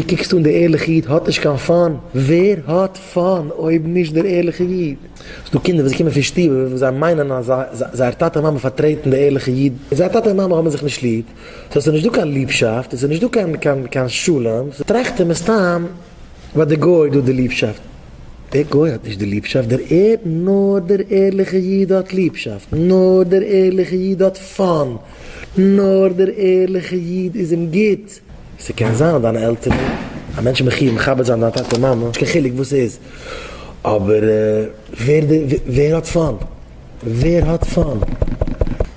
דו קוקסט אן דער ערליכער איד האט נישט קיין פאן? ווער האט פאן אויב נישט דער ערליכער איד? ס'איז דא קינדער וואס קומען פון שטובער וואו זיי מיינען אז זייער טאטע און מאמע פארטרעטן דער ערליכער איד, און זייער טאטע און מאמע האבן זיך נישט ליב, סאו ס'איז נישט דא קיין ליבשאפט און ס'איז נישט דא קיין שלום, סאו טראכט ער מסתם ביי דער גוי איז דא די ליבשאפט, דער גוי האט נישט די ליבשאפט, דער ער, נאר דער ערליכער איד האט ליבשאפט, נאר דער ערליכער איד האט פאן, נאר דער ערליכער איד איז אים גוט. ס'קען זיין אז דיינע עלטערן, א מענטש איז מחי' מכבד זיין דיין טאטע און מאמע, נישט קיין חילוק וואס ס'איז, אבער ווער די ווער האט פאן? ווער האט פאן?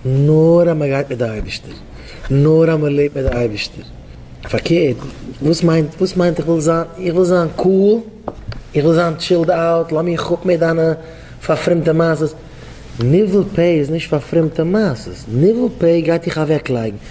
נאר אז מ'גייט מיט די אייבישטער, נאר אז מ'לעבט מיט די אייבישטער, פארקערט וואס מיינט וואס מיינט איך וויל זיין איך וויל זיין קאול, איך וויל זיין טשילד אוט, לאז מיך אפ מיט דיינע פארפרומטע מעשות, ניבול פה איז נישט פארפרומטע מעשות, ניבול פה גייט דיך אוועקלייגן.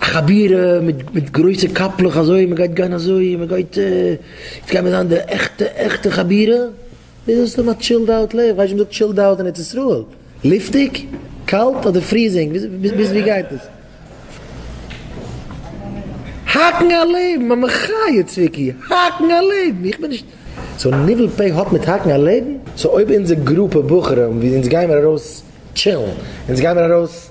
א חבירה מיט גרויסע קאפלעך אזוי מען גייט גיין אזוי מען גייט יעצט גייען מיר זיין די עכטע עכטע חבירה, איז עס סתם א טשילד אוט לעבן, כ'ווייס נישט וואס מ'זאגט טשילד אוט אין ארץ ישראל, לופטיג? קאלט? אדער פריזינג? ביז ווי גייט עס? האקן א לעבן! א מחיה צביקי! האקן א לעבן! איך בין נישט. סאו ניבול פה האט מיט האקן א לעבן? סאו אויב אונזער גרופע בחורים ווי אונז גיימיר ארויס טשילן, אונז גיימיר ארויס